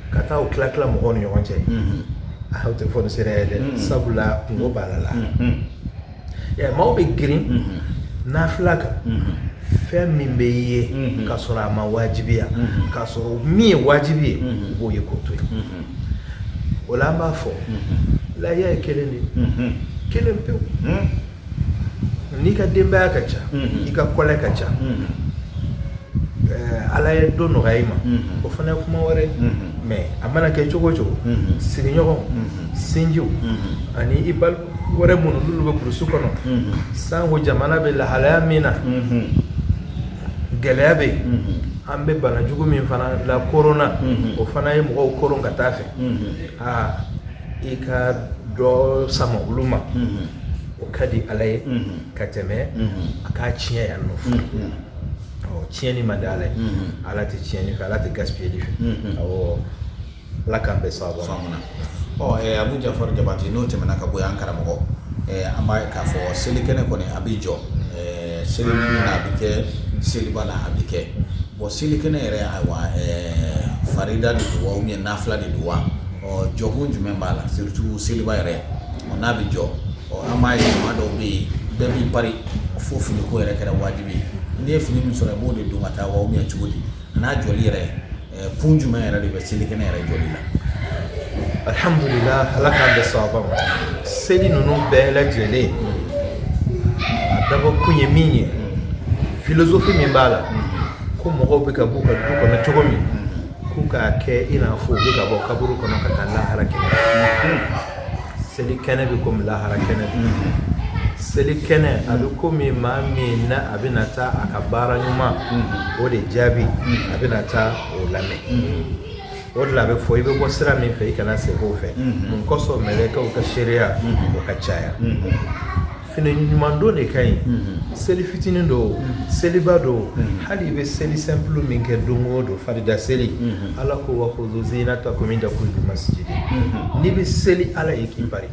ka taa o tila tila mɔgɔw ni ɲɔgɔn cɛ o tɛ fonisireya ye dɛ sabula kunko b'a la la maaw bɛ girin nafila kan fɛn min bɛ yen ka sɔrɔ a ma wajibiya ka sɔrɔ min ye wajibi ye u b'o ye k'o to yen o la an b'a fɔ lahiya ye kelen de ye kelen pewu n'i ka denbaya ka ca i ka kɔlɛ ka ca ala ye dɔ nɔgɔya i ma o fana ye kuma wɛrɛ mɛ a mana kɛ cogo o cogo sigiɲɔgɔn sinjiw ani i balima wɛrɛ minnu n'olu bɛ burusu kɔnɔ sanko jamana bɛ lahalaya min na gɛlɛya bɛ yen an bɛ banajugu min fana la korona o fana ye mɔgɔw koron ka taa fɛ aa i ka dɔ sama olu ma o ka di ala ye ka tɛmɛ a k'a tiɲɛ yan nɔ tiɲɛni man di ala ye ala tɛ tiɲɛni fɛ ala tɛ gaspiyeli fɛ awɔ ala k'an bɛn sawaba ma amina ɔ eh, Abu Jafar Jabate n'o tɛmɛna ka bɔ yan karamɔgɔ eh, an b'a ye k'a fɔ selikɛnɛ kɔni a bɛ jɔ eh, selinin na a bɛ kɛ seliba la a bɛ kɛ Bon selikɛnɛ nin yɛrɛ farida de wa ou bien nafila de don wa ɔ jɔkun jumɛn b'a la surtout seliba yɛrɛ n'a bɛ jɔ an b'a ye maa dɔw bɛ yen bɛɛ b'i pari fo finiko yɛrɛ kɛra wajibi ye n'i ye fini min sɔrɔ i b'o de don ka taa wa ou bien cogo di n'a jɔli yɛrɛ kun jumɛn yɛrɛ de bɛ selikɛnɛ nin yɛrɛ jɔli la alihamdulila ala k'an bɛn sawaba ma seli ninnu bɛɛ lajɛlen ye a dabɔ kun ye min ye filozofi min b'a la ko mɔgɔw bɛ ka bɔ u ka du kɔnɔ cogo min k'u k'a kɛ i n'a fɔ u bɛ ka bɔ kaburu kɔnɔ ka taa lahara kɛnɛ seli kɛnɛ bɛ komi lahara kɛnɛ seli kɛnɛ a bɛ komi maa min na a bɛna taa a ka baara ɲuman o de jaabi a bɛna taa o lamɛn o de la a bɛ fɔ i bɛ bɔ sira min fɛ i kana segin o fɛ mun kosɔn mɛlɛkɛw ka seereya o ka caya fini ɲuman don de ka ɲi seli fitinin don seliba don hali i bɛ seli simple min kɛ don o don farida seli ala ko wa khudhu zinatakum inda kulli masjid n'i bɛ seli ala ye k'i pari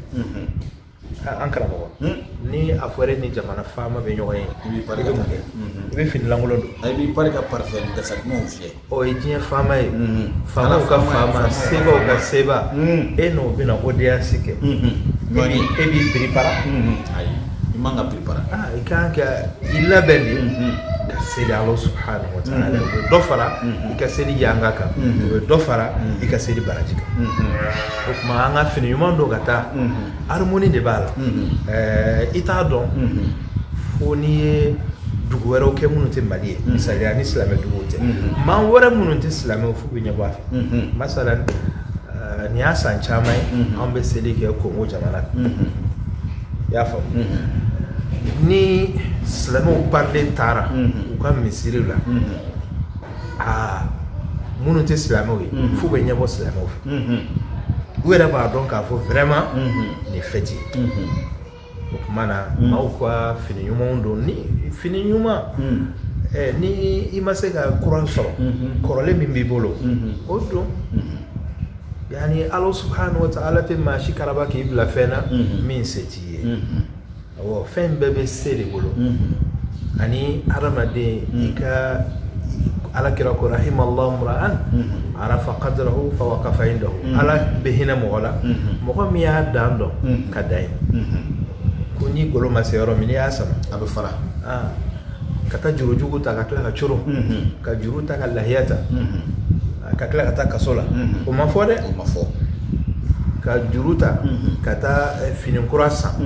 an karamɔgɔ hmm? ni a fɔra e ni jamana faama bɛ ɲɔgɔn ye i bɛ mun kɛ i bɛ fini lankolon don i b'i pari ka parfum kasa dumanw fiyɛ o ye diɲɛ faama ye faamaw ka faama sebaw ka seba e n'o bɛna audience kɛ jɔni e b'i prépara ayi i man ka prépara i kan ka i labɛn de ka seli ala subhanahu wa ta'ala o bɛ dɔ fara i ka seli yanga kan o bɛ dɔ fara i ka seli baraji kan o tuma an ka fini ɲuman don ka taa harmonie de b'a la i t'a dɔn fo n'i ye dugu wɛrɛw kɛ minnu tɛ mali ye misaliya ni silamɛ duguw tɛ maa wɛrɛ minnu tɛ silamɛw f'u bɛ ɲɛbɔ an fɛ masalan nin y'a san caman ye an bɛ seli kɛ kongo jamana i y'a faamu ni silamɛw parilen taara u ka misiriw la aa minnu tɛ silamɛw ye f'u bɛ ɲɛbɔ silamɛw fɛ u yɛrɛ b'a dɔn k'a fɔ vraiment nin fête o tuma na mm. maaw ka fini ɲumanw don ni fini ɲuman mm. eh, ni i ma se ka kura sɔrɔ mm-hmm. kɔrɔlen min b'i bolo mm-hmm. o don mm-hmm. yani ala subhanahu wa ta'ala tɛ maa si karaba k'i bila fɛn na min se t'i ye awɔ fɛn bɛɛ bɛ se de bolo ani hadamaden i ka Ala kira ko rahimallahu imra'an arafa qadrahu fa waqafa indahu ala bɛ hinɛ mɔgɔ la mɔgɔ min y'a dan dɔn ka dan yen ko n'i golo ma se yɔrɔ min n'i y'a sama a bɛ fara ka taa jurujugu ta ka tila ka c ka juru ta ka lahiya ta ka tila ka taa kaso la o ma fɔ dɛ o ma fɔ ka juru ta ka taa fini kura san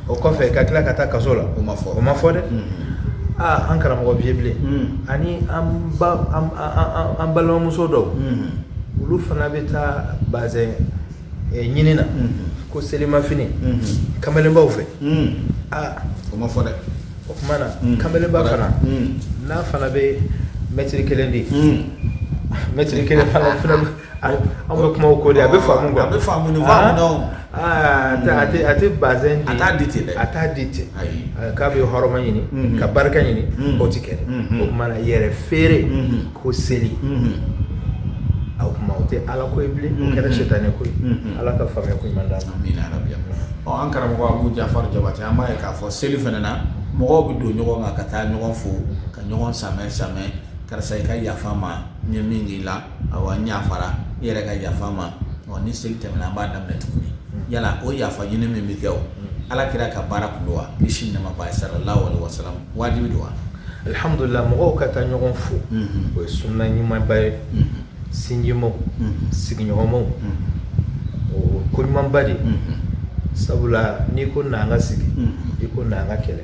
o kɔfɛ ka tila ka taa kaso la o ma fɔ o ma fɔ dɛ aa an karamɔgɔ vieux bilen ani an ba an balimamuso dɔw olu fana bɛ taa bazɛn ɲini na ko selimafini kamalenbaw fɛ aa o ma fɔ dɛ o tuma na kamalenba fana n'a fana bɛ mɛtiri kelen di mɛtiri kelen fana fana Ayi an bɛ kuma o ko de a bɛ faamu a bɛ faamu a tɛ bazɛn di ten a t'a di ten k'a bɛ hɔrɔma ɲini ka barika ɲini o tɛ kɛ o tuma yɛrɛ feere ko seli o tuma o tɛ ala ko ye bilen o kɛra sitanɛ ko ye ala ka faamuya ko ɲuman d'an ma an karamɔgɔ Abu Jafar Jabate an b'a ye k'a fɔ seli fana na mɔgɔw bɛ don ɲɔgɔn kan ka taa ɲɔgɔn fo ka ɲɔgɔn sanbɛ sanbɛ karisa i ka yafa n ma n ye min k'i la awa n yafara i yɛrɛ ka yafa n ma ɔ ni seli tɛmɛna an b'a daminɛ tuguni yala o yafa ɲini min bɛ kɛ o ala kira ka baara kun don wa kisi nɛma b'a ye sallallahu alaihi wasallam wajibi don wa alhamdulillah mɔgɔw ka taa ɲɔgɔn fo o ye sunna ɲumanba ye sinjimaw sigiɲɔgɔnmaw o ko ɲumanba de sabula n'i ko n'an ka sigi i ko n'an ka kɛlɛ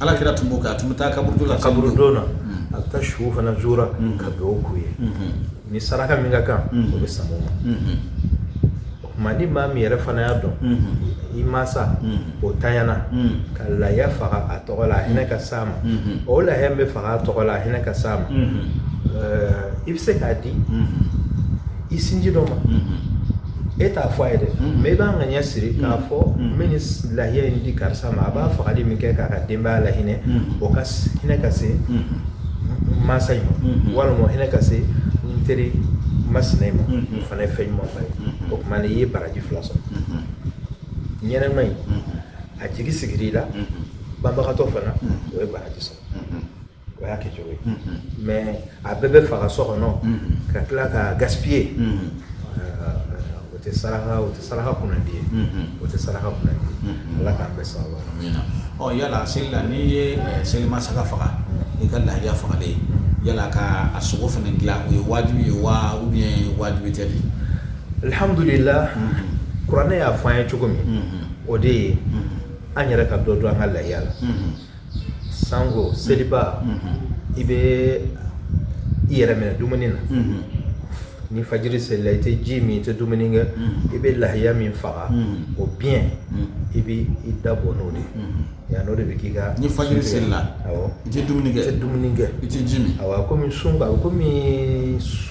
Ala kira tun b'o kɛ a tun bɛ taa kaburudon la kaburudon na a bɛ taa suw fana zura ka dugawu k'u ye ni saraka min ka kan o bɛ sama o ma o tuma ni maa min yɛrɛ fana y'a dɔn i mansa o tanyana ka laya faga a tɔgɔ la a hinɛ ka s'a ma o laya min bɛ faga a tɔgɔ la a hinɛ ka s'a ma i bɛ se k'a di i sinji dɔ ma e t'a fɔ a ye dɛ mais i b'a ŋaniya siri k'a fɔ n bɛ nin lahiya in di karisa ma a b'a fagali min kɛ k'a ka denbaya lahinɛ o ka hinɛ ka se mansa in ma walima hinɛ ka se n teri masina in ma o fana ye fɛn ɲumanba ye o tuma i ye baraji fila sɔrɔ ɲɛnɛma in a jigi sigir'i la banbagatɔ fana o ye baraji sɔrɔ o y'a kɛcogo ye mais a bɛɛ bɛ faga so kɔnɔ ka tila ka gaspiller o tɛ saraka o tɛ saraka kun de ye o tɛ saraka kun ala k'an bɛɛ sa ɔ yala seli la n'i ye selima saga faga ni i ka laya fagalen yala ka a sogo fana tila o ye wajibi ye wa ou bien wajibi tɛ de alihamdulila kuranɛ y'a fɔ an ye cogo min o de ye an yɛrɛ ka dɔ dun an ka lahiya la sango seliba i bɛ i yɛrɛ minɛ dumuni na ni fajiri selila i tɛ ji min i tɛ dumuni kɛ i bɛ lahiya min faga o biyɛn i bɛ i da bɔ n'o de ye n'o de bɛ k'i ka ni fajiri selila i tɛ dumuni kɛ i tɛ dumuni kɛ i tɛ ji min a kɔmi sun a bɛ kɔmi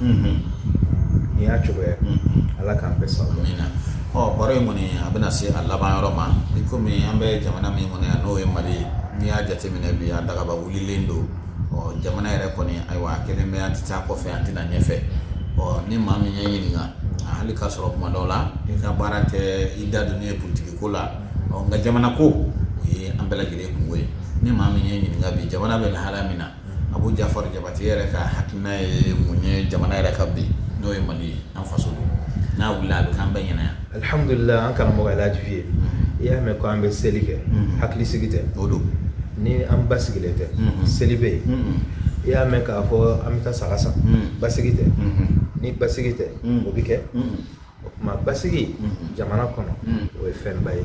nin y'a cogoya ala k'an bɛ sa min na ɔ baro in kɔni a bɛna se a laban yɔrɔ ma i kɔmi an bɛ jamana min kɔnɔ yan n'o ye mali ye n'i y'a jateminɛ bi a dagaba wulilen don ɔ jamana yɛrɛ kɔni ayiwa a kelen bɛ an tɛ taa kɔfɛ an tɛna ɲɛfɛ ɔ ni maa min y'i ɲininka hali k'a sɔrɔ kuma dɔw la i ka baara tɛ i da don ne ye politigi ko la ɔ nka jamana ko o ye an bɛɛ lajɛlen kunko ye ni maa min y'i ɲininka bi jamana bɛ lahala min na abu jafar jabate yɛrɛ ka hakilina ye mun ye jamana yɛrɛ kan bi n'o ye mali ye an faso don n'a wulila a bɛ k'an bɛɛ ɲɛna yan alihamdulila an karamɔgɔ alaji vieux i y'a mɛn ko an bɛ seli kɛ hakili sigi tɛ o don ni an basigilen tɛ seli bɛ yen i y'a mɛn k'a fɔ an bɛ taa saga san basigi tɛ ni basigi tɛ o bɛ kɛ o tuma basigi jamana kɔnɔ o ye fɛnba ye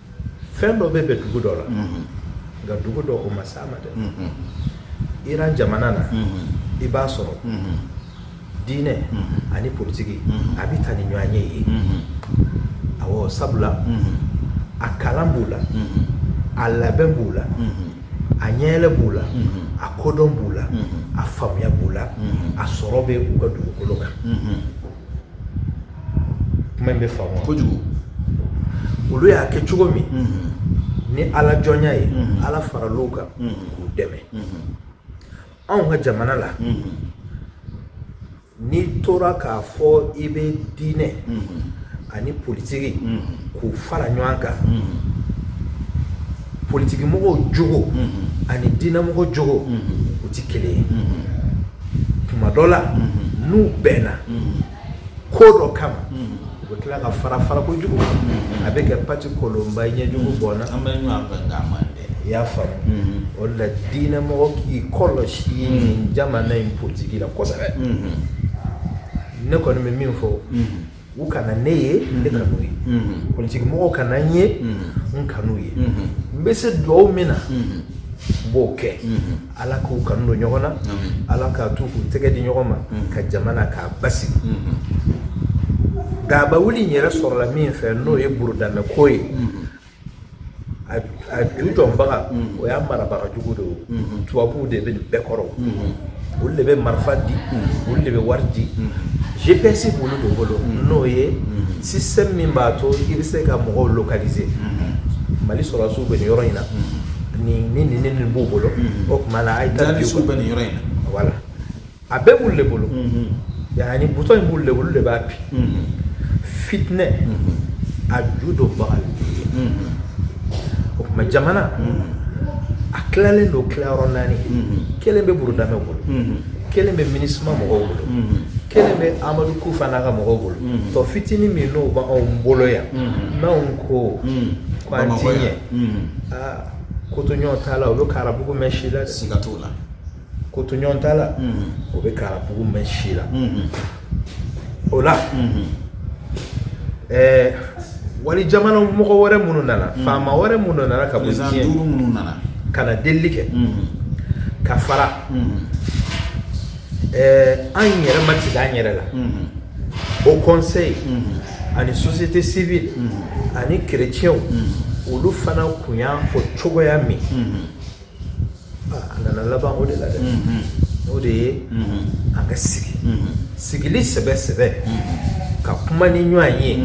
fɛn dɔ bɛ bɛn dugu dɔ la nka dugu dɔ o ma s'a ma dɛ iran jamana na i b'a sɔrɔ diinɛ ani politigi a bɛ taa ni ɲɔgɔn ye yen awɔ sabula a kalan b'u la a labɛn b'u la a ɲɛyɛlɛ b'u la a kodɔn b'u la a faamuya b'u la a sɔrɔ bɛ u ka dugukolo kan kuma in bɛ faamu kojugu olu y'a kɛ cogo min ni ala jɔnya ye ala faral'u kan k'u dɛmɛ anw ka jamana la n'i tora k'a fɔ i bɛ diinɛ ani politigi k'u fara ɲɔgɔn kan politigimɔgɔ jogo ani diinɛmɔgɔ jogo u tɛ kelen ye tuma dɔ la n'u bɛnna ko dɔ kama u bɛ tila ka fara fara kojugu a bɛ kɛ pati kolonba ɲɛ jugu bɔn an bɛ i y'a faamu o la diinɛmɔgɔ k'i kɔlɔsi nin jamana in politigi la kosɛbɛ ne kɔni bɛ min fɔ u kana ne ye ne kan'u ye politigi mɔgɔw kana n ye n kan'u ye n bɛ se dugawu min na n b'o kɛ ala k'u kanu don ɲɔgɔn na ala k'a to u k'u tɛgɛ di ɲɔgɔn ma ka jamana k'a basigi dagaba wuli in yɛrɛ sɔrɔla min fɛ n'o ye burudamɛko ye a ju dɔnbaga mm. o y'a marabaga jugu de o mm-hmm. tubabuw de bɛ nin bɛɛ kɔrɔ mm-hmm. olu de bɛ marifa di mm-hmm. olu de bɛ wari di gps b'olu de bolo n'o ye système min b'a to i bɛ se ka mɔgɔw localiser mali sɔrɔdasiw bɛ nin yɔrɔ in na nin ni nin ni nin b'u bolo o tuma na a ye taa u bɛ nin yɔrɔ in na voilà a bɛɛ b'olu de bolo yan ni butɔn in b'olu de bolo olu de b'a bi fitinɛ a ju dɔnbaga ye o tuma jamana a tilalen don tilayɔrɔ naani kelen bɛ burudamɛ bolo kelen bɛ minisima mɔgɔw bolo kelen bɛ amadu kufa n'a ka mɔgɔw bolo tɔ fitinin min n'o b'anw bolo yan n'anw ko ko an ti ɲɛ aa kotoɲɔgɔntala o bɛ karabugu mɛn si la siga t'o la kotoɲɔgɔntala o bɛ karabugu mɛn si la o la ɛɛ wali jamana mɔgɔ wɛrɛ minnu nana faama wɛrɛ minnu nana ka minnu nana ka na delili kɛ ka fara ɛɛ an yɛrɛ matigi an yɛrɛ la Haut Conseil ani société civile ani kerecɛnw olu fana kun y'a fɔ cogoya min A nana laban o de la dɛ o de ye an ka sigi sigili sɛbɛ sɛbɛ ka kuma ni ɲɔgɔn ye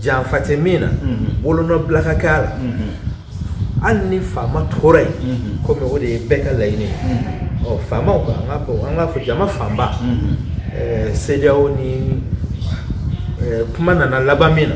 janfa tɛ min na bolonɔ bila ka k'a la hali ni faama tora yen kɔmi o de ye bɛɛ ka laɲini ye faamaw ka an k'a fɔ jama fanba CEDEAO ni kuma nana laban min na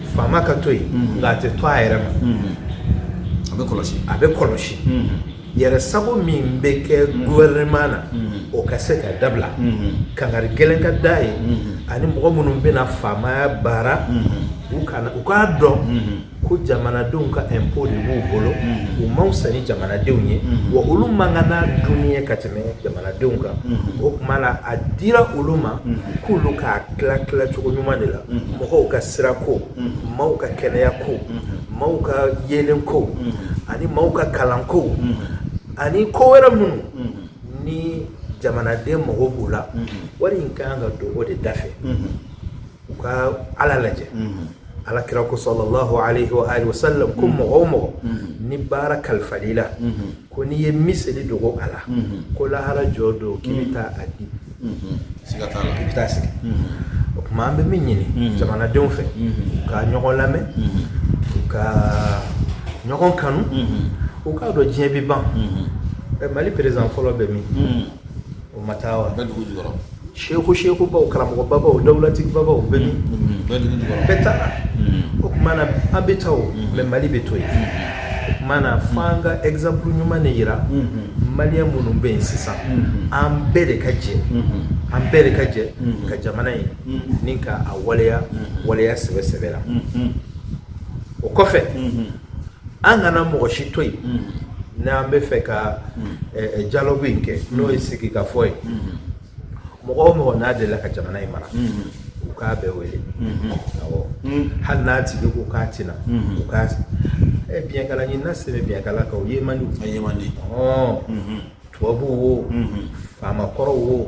faama ka to yen mm-hmm. nka a tɛ to a yɛrɛ ma mm-hmm. a bɛ kɔlɔsi a bɛ kɔlɔsi mm-hmm. yɛrɛ sago min bɛ kɛ gouvernement na o ka se ka dabila kangari gɛlɛn ka d'a ye ani mɔgɔ minnu bɛna faamaya baara u kana u k'a dɔn ko jamanadenw ka impôt de b'u bolo u man fisa ni jamanadenw ye wa olu man kan n'a dunni ye ka tɛmɛ jamanadenw kan o tuma la a dira olu ma k'olu k'a tila tila cogo ɲuman de la mɔgɔw ka sira ko maaw ka kɛnɛya ko maaw ka yeelen ko ani maaw ka kalan ko ani ko wɛrɛ minnu ni jamanaden mago b'u la wari in ka kan ka don o de da fɛ u ka ala lajɛ ala kira ko sallallahu alaihi wa alihi wasallam ko mɔgɔ o mɔgɔ ni baara kalifal'i la Ko n'i ye miseli dogo a la, unhun, ko lahara jɔ don k'i bɛ taa a di, unhun, siga t'a la, i bɛ taa sigi, unhun, o tuma an bɛ min ɲini jamanadenw fɛ, unhun, u ka ɲɔgɔn lamɛn, unhun, u ka ɲɔgɔn kanu, unhun, u k'a dɔn diɲɛ bɛ ban, unhun, ɛ Mali président fɔlɔ bɛ min? o ma taa wa a bɛ dugu jukɔrɔ seku seku baw karamɔgɔ babaw dawulatigi babaw bɛ min bɛɛ taara o tuma na an bɛ taa o mais mali bɛ to yen o tuma na fo an ka exemple ɲuman de jira maliyɛn minnu bɛ yen sisan an bɛɛ de ka jɛ an bɛɛ de ka jɛ ka jamana ye ni ka a waleya waleya sɛbɛ sɛbɛ la o kɔfɛ an kana mɔgɔ si to yen n'an b'a fɛ ka dialogue in kɛ n'o ye sigi ka fɔ ye mɔgɔ o mɔgɔ n'a delila ka jamana in mara u k'a bɛɛ wele hali n'a tigi ko k'a tɛ na u k'a bikala na se bɛkala kan ye man ye man tubabu wo faamakɔrɔw wo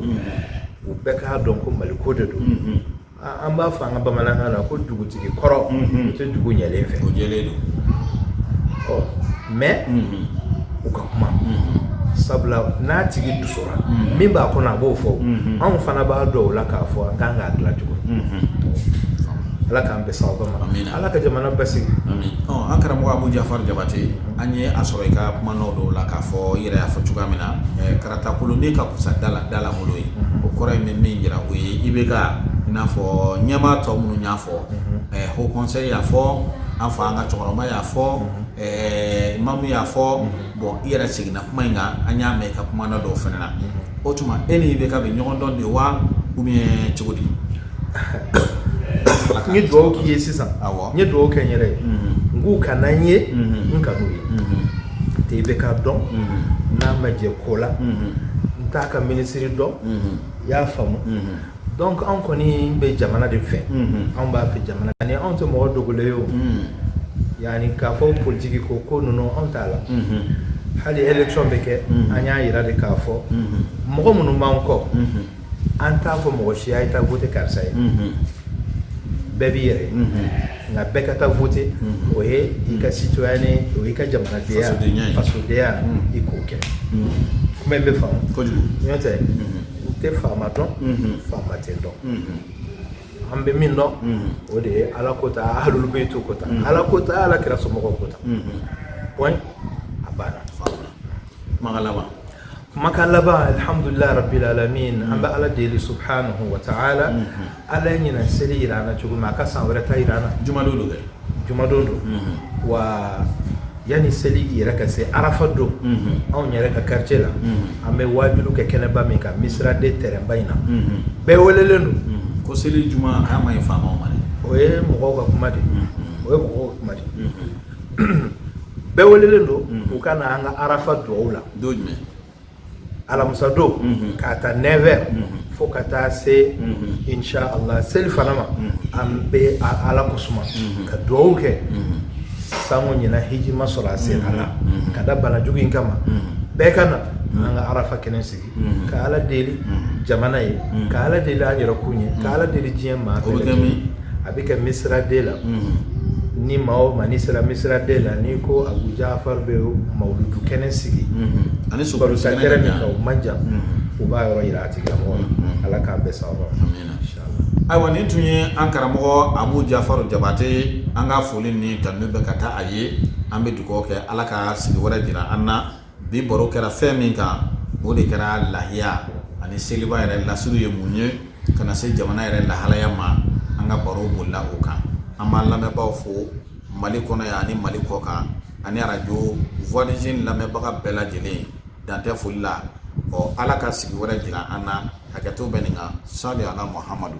u bɛɛ k'a dɔn ko mali ko de don an b'a fɔ an ka bamanankan na ko dugutigi kɔrɔ o tɛ dugu ɲɛlen fɛ o jɛlen don ɔ mais u ka kuma sabula n'a tigi dusura min b'a kɔnɔ a b'o fɔ anw fana b'a dɔn o la k'a fɔ an kan k'a dilan cogo ala k'an bɛn sababu ma ala ka jamana basigi an karamɔgɔ abu jafari jabate an ye a sɔrɔ i ka kuma nɔ dɔw la k'a fɔ i yɛrɛ y'a fɔ cogoya min na karata kolon ne ka kusa dala bolo ye o kɔrɔ in bɛ min jira o ye IBK i n'a fɔ ɲɛmaa tɔ minnu y'a fɔ haut conseil y'a fɔ an fa an ka cɛkɔrɔba y'a fɔ mahmoud y'a fɔ bon i yɛrɛ seginna kuma in kan an y'a mɛn i ka kuma nɔ dɔw fana na o tuma e ni IBK bɛ ɲɔgɔn dɔn de wa ou bien cogo di n ye dugawu k'i ye sisan n ye dugawu kɛ n yɛrɛ ye n k'u kana n ye n kan'u ye tɛ IBK dɔn n'a ma jɛ ko la n t'a ka minisiri dɔn i y'a faamu donc anw kɔni bɛ jamana de fɛ anw b'a fɛ jamana ani anw tɛ mɔgɔ dogolen ye o yani k'a fɔ politiki ko ko ninnu anw t'a la hali élection bɛ kɛ an y'a yira de k'a fɔ mɔgɔ minnu b'an kɔ an t'a fɔ mɔgɔ si ye taa voter karisa ye bɛɛ b'i yɛrɛ nka bɛɛ ka taa voter o ye i ka citoyenneté o ye i ka jamana fasodenya ye i k'o kɛ kuma in bɛ faamu n'o tɛ n tɛ faama dɔn faama tɛ n dɔn an bɛ min dɔn o de ye ala ko ta ahlul bayti ko ta ala ko ta ala kira somɔgɔw ko ta a banna Kuma laban kumakan laban alhamdulillah rabbil alamin an bɛ ala deli subhanahu wa ta'ala ala ye ɲinan seli jira an na cogo min a ka san wɛrɛ ta jira an na juma don dɛ jumadon don wa yanni seli yɛrɛ ka se arafa don anw yɛrɛ ka quartier la an bɛ waajuli kɛ kɛnɛba min kan misira de terrain ba in na bɛɛ welelen don ko seli juma man ɲi faama ma o ye mɔgɔw ka kuma de o ye mɔgɔw kuma de bɛɛ welelen don u ka na an ka arafa dugawu la don jumɛn alamisa don k'a ta 9 heures fo ka taa se insha allah seli fana ma an bɛ ala ko suma ka dugawu kɛ sango ɲinan hiji ma sɔrɔ a se a la ka da banajugu in kama bɛɛ ka na an ka arafa kɛnɛ sigi ka ala deli jamana ye ka ala deli an yɛrɛ kun ye ka ala deli diɲɛ maa bɛɛ lajɛlen a bɛ kɛ misira de la ni maa o maa ni sera misira de la ni ko abu jafaru bɛ mawuludu kɛnɛ sigi ani so sɛɛrɛ min o man jan u b'a yɔrɔ jira a tigilamɔgɔ la ala k'an bɛ sa ayiwa nin tun ye an karamɔgɔ abu jafaru jabate an ka foli ni tanu bɛ ka taa a ye an bɛ dugawu kɛ ala ka sigi wɛrɛ jira an na bi baro kɛra fɛn min kan o de kɛra lahiya ani seliba yɛrɛ lasili ye mun ye ka na se jamana yɛrɛ lahalaya ma an ka baro bolila o kan an b'an lamɛnbaaw fo mali kɔnɔ yan ani mali kɔ kan ani arajo voix des jeunes lamɛnbaga bɛɛ lajɛlen dan tɛ foli la ɔ ala ka sigi wɛrɛ jira an na hakɛto bɛ nin kan sali ala muhamadu